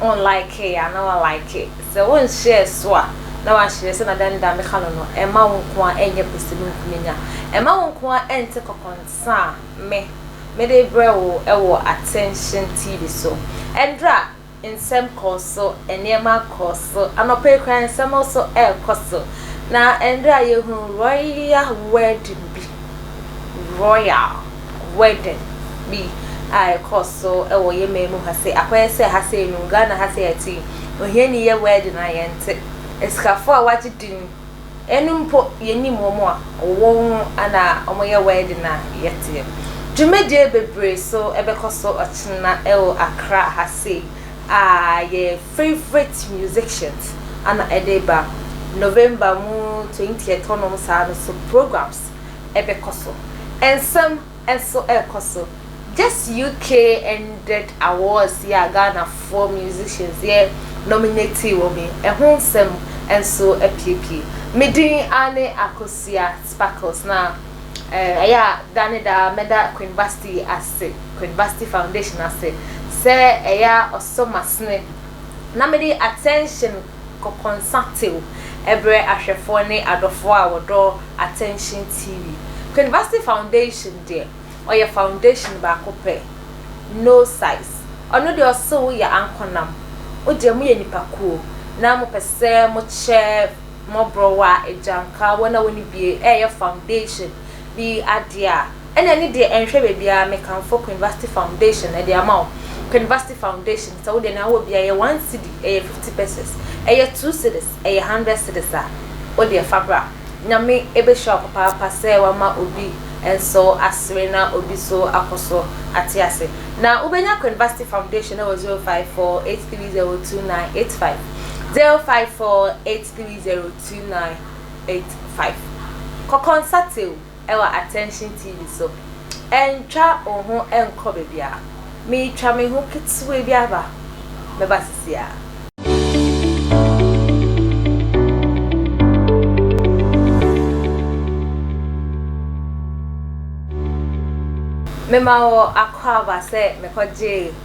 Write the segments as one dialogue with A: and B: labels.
A: Wo likee a na wa like, sɛ wo nhyɛɛ so a na wa hyɛ, sɛnea dɛn da me ka no no, ɛmma wo nko ara ɛnyɛ pɛsɛ mu nkununya, ɛmma wo nko ara ɛnte kɔkɔnsa a me, me de brɛ wo ɛwɔ Attention TV so. Ɛnderɛ a nsɛm kɔɔ so, nneɛma kɔɔ so, anɔpa yi koraa nsɛm nso ɛrekɔ so, na ɛnderɛ a yɛhunu Royal Wedding bi, Royal. wedding bi a ɛkɔ so wɔ yɛ man mu ha sei akɔyɛ sɛ ha sei no Ghana ha sei ɛte yi ohiani yɛ wedding a yɛnte asikafo a wagye din ɛno mpo yɛnim wɔn a wɔwɔ ho ana wɔyɛ wedding a yɛteɛ dwumadie bebree so ɛbɛkɔ so ɔkyena ɛwɔ Accra ha sei a yɛ favorite musicians ana ɛde ba November mu 20th hɔnom saa no so programs ɛbɛkɔ so. Nsɛm nso rekɔ so. Just UK ended awards yi a Ghanafoɔ musicians yɛ nominatee wɔn yi, ɛho nsɛm nso apuepue. Me din aane Akosua Sparkles na eh, ɛyɛ a da ne da mɛda Queen Vasti ase, Queen Vasti Foundation ase sɛ ɛyɛ a ɔsɔ m'asene na mede attention kɔkɔnsa tew brɛ ahwɛfoɔ ne adɔfoɔ a wɔdɔ Attention TV. Kwenvasi Foundation deɛ, ɔyɛ foundation baako pɛ, no size. Ɔno deɛ ɔse wo yɛ ankonam, wo deɛ mo yɛ nipa kuo na mo pɛ sɛ mo kyɛ mɔborɔwa, agyanka, wɔn a wɔnni bie, ɛɛyɛ foundation bi adeɛ a, Ɛna ɛne deɛ ɛnhwɛ baabiara mekamfo Queenvasty foundation ɛde ama wo Queenvasty foundation sɛ wo deɛ nea wowɔ biara ɛyɛ one cedi ɛyɛ fifty pesews ɛyɛ two cedis ɛyɛ hundred cedis a wo deɛ fa bra Nyame ɛbɛhyira wo papaapa sɛ wama obi nso asere na obi nso akɔ so ate ase na wobɛnya Queenvasty foundation ɛwɔ zero five four eight three zero two nine eight five zero five four eight three zero two nine eight five kɔ kɔnsate o wɔ Attention TV so. Ntwa wo ho nkɔ baabiara. Meretwa me ho ketewaa bi aba. Mɛba seesei. Mema wo akwaaba sɛ mekɔgyee.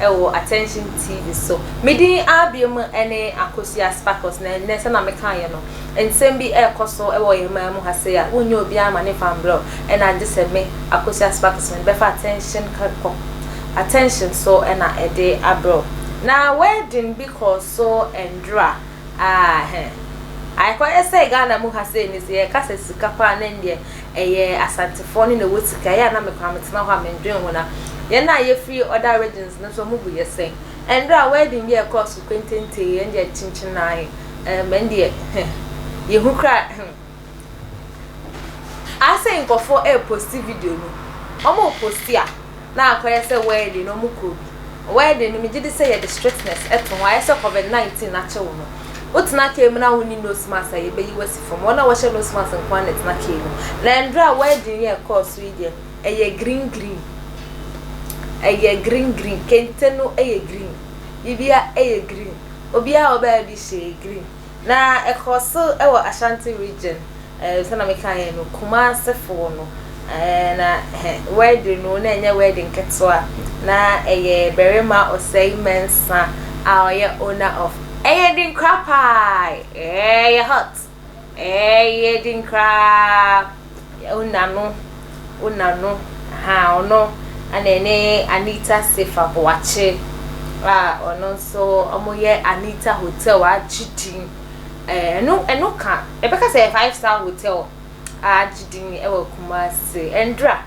A: wɔ Attention TV so. Me din ara bio mu ne Akosua Sparkles, na ɛnnɛ sɛnea mekaeɛ no, nsɛm bi rekɔ so wɔ yɛn man mu ha sei a, wonnya obiara mma ne mfa mbrɛ wo, ɛna agye sɛ me, Akosua Sparkles, mede bɛfa Attention kɔ, Attention so na ɛde abrɛ wo. Na wedding bi kɔɔ so Ndora, aah heh. Aekɔyɛ sɛ Ghana mu ha sei no sɛ yɛka sɛ sika paa na ɛndeɛ, Ɛyɛ Asantefoɔ no na ɛwɔ sika. Ɛyɛ a na mekɔ a metena hɔ a mendwen ho na yɛn a yɛfiri other regions no nso wɔn bu yɛ sɛn? Ɛnderɛ a wedding bi a ɛkɔɔ so kwententee yɛn deɛ kyinkyin ara yɛ ɛɛm ɛn deɛ heh yɛhu koraa ehem. Asɛ nkɔfoɔ ɛɛposti video no wɔn reposti a. na akɔyɛ sɛ wedding no ɔmo kɔ bi wedding no megye di sɛ yɛde strictness to ho ayɛ sɛ covid 19 akye wo no wotena car mu na wonni nose mask a yɛbɛyi wasi fam wɔn a wɔhyɛ nose mask nko ara na ɛtena car mu na ndra a wedding yɛ ɛkɔɔ so yi deɛ ɛyɛ green green ɛyɛ green green kente no ɛyɛ green bibia ɛyɛ green obiara ɔbaa bi hyɛ green. Na ɛkɔɔ so wɔ Ashanti region eh, sɛna mekaeɛ no, Kumasefoɔ no eh, na eh, wedding no na ɛnyɛ wedding ketewa, na ɛyɛ barima ɔsɛe mɛnsa a ɔyɛ owner of ɛyɛ den koraa paa, ɛyɛ hot, ɛyɛ den koraa. Ona no Ona no ahaa ɔno ɛna ɛne Anita Sefa Boakye a ɔno nso wɔyɛ Anita Hotel a agye din ɛɛ ɛno ɛno ka ɛbɛka sɛ five star hotel a agye din ɛwɔ Kumasi ɛndra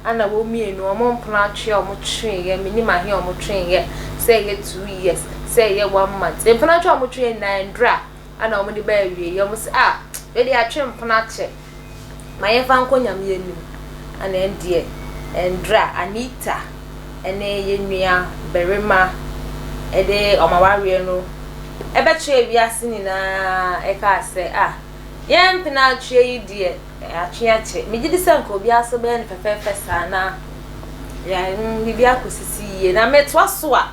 A: ɛna wɔn mmienu wɔn mpono atwe a wɔn tweeɛ menim ahe a wɔn tweeɛ sɛ ɛyɛ two years sɛ ɛyɛ one month mpono atwe a wɔn tweeɛ nyinaa ɛndra ɛna wɔn de bɛɛ wie yɛ wɔn sɛ a ɛde atwe mpono akyɛ. ma yɛmfa nkɔ Nyame anim ana ɛndeɛ ɛndra Anita ɛne yɛnua barima ɛde wɔn awareɛ no ɛbɛkyerɛ wiase nyinaa ɛkaa sɛ a yɛn mpena atweɛ yi deɛ atwe akyɛ megye di sɛ nka obiara so bɛyɛ no fɛfɛɛfɛ saa na yɛn biribi akɔsisi yie na metoa so a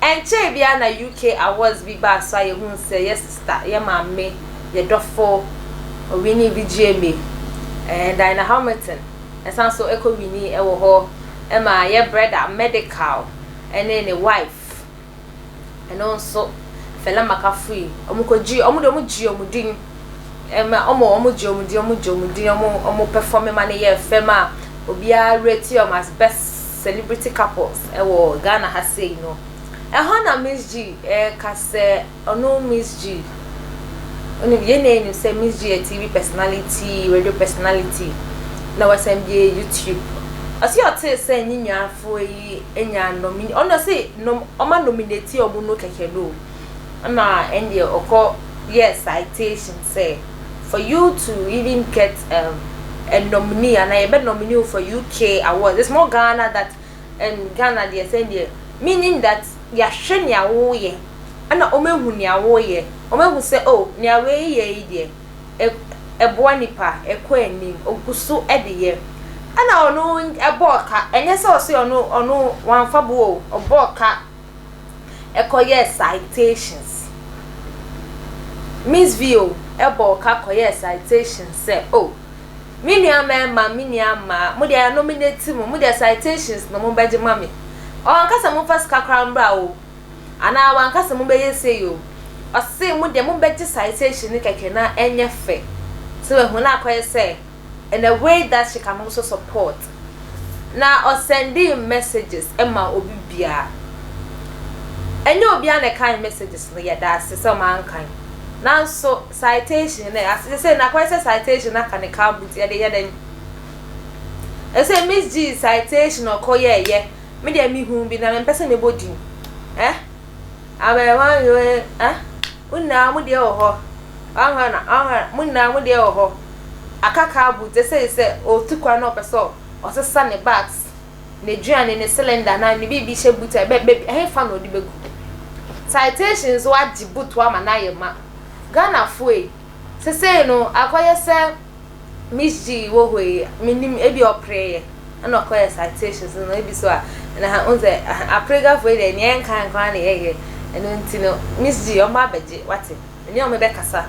A: Ɛnkyɛe biara na UK awards bi baa so a yɛhuu sɛ yɛ sista, yɛ maame, yɛ dɔfo winii VGMA. Ɛɛ Dinah Hamilton san so kɔ winii wɔ hɔ ma yɛ brɛda Medikal ne ne wife. Ɛno nso Fela Makafui, wɔkɔgyee, wɔn de wɔgyee wɔn din. ma ɔmo ɔmo gye ɔmo din ɔmo gye ɔmo din ɔmo ɔmo pɛfɔme ma no yɛ fɛm a obiara reti ɔmo as best celebrity couples ɛwɔ Ghana ha sei no ɛhɔ na Miss G ɛɛka sɛ ɔno Miss G ɔno yɛn na ɛnim sɛ Miss G yɛ TV personality radio personality na wasan bi yɛ YouTube ɔsi ɔtee sɛ ne nuafoɔ yi nya nom ɔno ɔsi nom ɔma nominate ɔmo no kɛkɛ no. Ɛna ɛndeɛ ɔkɔ yɛɛ citation sɛ for you to even get um, a nominee anaa yɛbɛ nominee wo for UK awards it's more Ghana that um, Ghana deɛ sɛ ɛndeɛ meaning that yɛahwɛ nea woyɛ ɛna wɔn ahu nea woyɛ wɔn ahu sɛ oh nea wei yɛ yi deɛ ɛ ɛboa nipa ɛkɔ anim ogu so ɛde yɛ ɛna ɔno ɛbɔɔ ka ɛnyɛ sɛ ɔse ɔno ɔno wanfa bo o ɔbɔɔ ka kɔyɛɛ citations. Miss Vio bɔɔ ka kɔyɛɛ citations sɛ, Oh, me nua mmarima, me nua mmaa, mo deɛ anominate mo, mo deɛ citations na mobɛgye ma me. Ɔanka sɛ momfa sika koraa mbra o, anaa wanka sɛ mobɛyɛ sei o. Ɔse mo deɛ mobɛgye citation no kɛkɛ na ɛnyɛ fɛ. So wahu na akɔyɛ sɛ and a way that she can also support na ɔsɛndee messages ma obi biara ɛnyɛ obiara na ɛkan messages no yɛdaase sɛ ɔma nkan nanso citation no ase sɛ na kɔyɛ sɛ citation no aka ne car boot yɛde yɛ dɛn ɛsɛ miss g citation ɔkɔ yɛɛyɛ me deɛ me hu bi na mempɛ sɛ mebɔ din eh Abaamua no se, Eh, mo nyinaa mo deɛ wɔ hɔ. W'ahwɛ na, w'ahwɛ na, mo nyinaa mo deɛ wɔ hɔ. Aka car boot, ɛsei sɛ ɔretu kwan na ɔpɛ sɛ ɔsesa ne bags, n'aduane, ne cylinder anaa ne biribi hyɛ boot a, bɛ, bɛ, ɛhefa na ɔde bɛgu? Citation nso agye boot ama no ayɛ ma. Ghanafoɔ yi, sesei no, akɔyɛ sɛ. Miss G wɔ hɔ yi, mennim, ebia ɔpereeɛ na ɔkɔyɛɛ citations no, ebi so a, na ha, wohu sɛ, aha, Apregafoɔ yi deɛ, nea yɛnkae nko ara na yɛyɛ, ɛno nti no, Miss G, wɔmmra abɛgye, woate, me ne wɔn bɛkasa.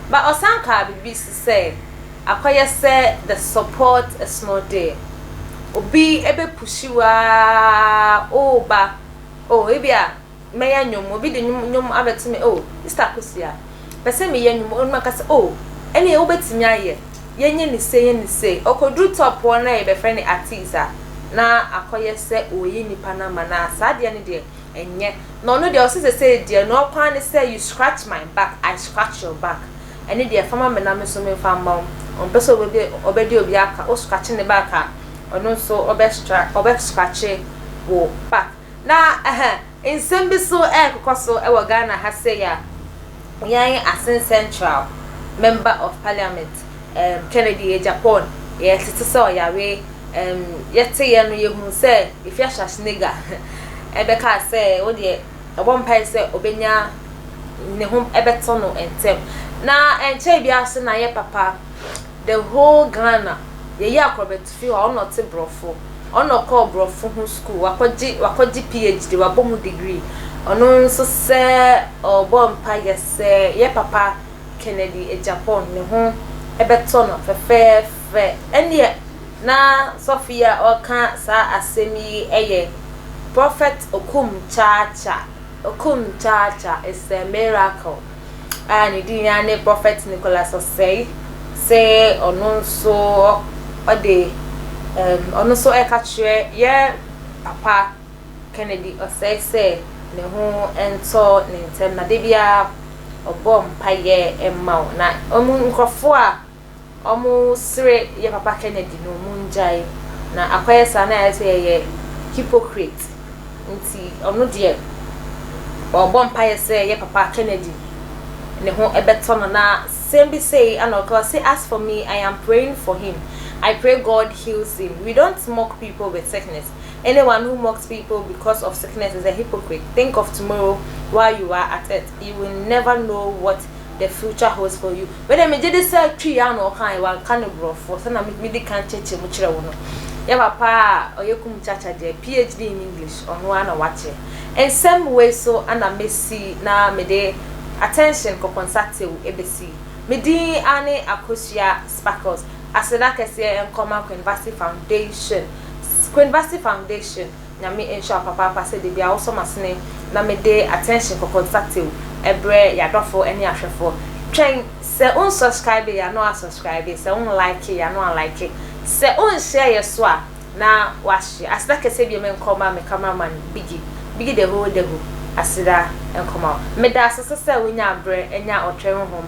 A: But ɔsan kaa biribi so sɛ, akɔyɛ sɛ the support ɛsono deɛ, obi bɛpushi wo ara, oh ba, oh, ebia Mɛyɛ nnwom, obi de nnwom nnwom abɛto me oh, Mister Akosua. Pɛ sɛ meyɛ nnwom, oh, na maka sɛ oh, ɛneɛ wobɛtumi ayɛ, yɛnyɛ no sei, yɛnyɛ no sei. Ɔkɔduru top hɔ na yɛbɛfrɛ no artiste a, na akɔyɛ sɛ ɔreyi nnipa number no ara, saa deɛ no deɛ, ɛnyɛ. Na ɔno deɛ, ɔse sesei deɛ, ne ɔkwan ara ne sɛ, you scratch my back, I scratch your back. Ɛno deɛ, fa ma me na me nso memfa mma wo. Ɔmpɛ sɛ ɔbɛdi ɔbɛdi obi aka, wo scratch ne back a, ɔno nso ɔbɛ scratch wo back. Na ɛhɛ, nsɛm bi so ɛrekokɔ so wɔ Ghana ha sei a, yɛn Asin Central Member of Parliament ɛɛm Kennedy Agyapong, yɛtete sɛ ɔyare, ɛɛm yɛteeɛ no yɛhunu sɛ Afia Schwarzenegger ɛbɛkaa sɛ wodeɛ ɔbɔ mpaeɛ sɛ ɔbɛnya ne ho ɛbɛtɔ no ntɛm. Na ɛnkyɛe biara so na yɛ papa, the whole Ghana, yɛyi akorɔbɛto. Fi hɔ a, ɔno ɔte Borɔfo. Ɔno ɔkɔɔ Borɔfo ho sukuu. Wakɔgye, wakɔgye PHD, wabɔ mu degree. Ɔno nso sɛ ɔrebɔ mpaeɛ sɛ yɛ papa Kennedy Agyapong ne ho bɛtɔ no fɛfɛɛfɛ. Ɛnneɛ na sɔfo yi a ɔreka saa asɛm yi yɛ Prophet Okum Kyaakyaa. Okum Kyaakyaa is a miracle. a ne din ara ne Prɔfɛt Nicholas Osei sɛ ɔno nso ɔde um, ɔno nso ɛka kyerɛ yɛ papa Kennedy Osei sɛ ne ho ntɔ ne ntɛm na da biara ɔbɔ mpaeɛ ma wo na ɔmu nkurɔfoɔ a Ɔmo sere yɛ papa Kennedy no ɔmo ngyae na akɔyɛ saa na ayɛ sɛ yɛyɛ hypocrite nti ɔno deɛ ɔbɔ mpaeɛ sɛ yɛ papa Kennedy ne ho ɛbɛtɔ no na sɛm bi sei ana ɔka ɔse as for me I am praying for him I pray God heals him we don't mock people with sickness anyone who mocks people because of sickness is a hypocrite think of tomorrow while you are at it you will never know what the future holds for you. Wei deɛ megye de sɛ Twi a na ɔkaeɛ, wanka no borɔfo sɛdeɛ na medi kan kyerɛkyerɛ mu kyerɛ wo no. Yɛ papa a ɔyɛ Kumukyacha deɛ, PhD in English, ɔno ara na wakyerɛ. Nsɛm wei so na mɛsi na mede attention kɔkɔnsatew bɛsi. Me din ara ne Akosua Sparkles. Aseda kɛseɛ nkɔ ma Queenvasy Foundation. Queenvasy Foundation, Nyame nhyira wo papaapa sɛ da biara wosɔ m'asene na mede attention kɔkɔnsatew brɛ y'adɔfo ne ahwɛfo. Twɛn, sɛ wo nsɔskraibe yɛ a na w'asɔskraibe, sɛ wo nlaike yɛ a na w'alaike, sɛ wo nhyɛɛ yɛ so a na w'ahyɛ. Aseda kɛseɛ biom nkɔ ma me camera man Biggy, Biggy the whole Dago, aseda nkɔ ma wo. Meda asese sɛ wonya aberɛ anya ɔtwɛn honhom.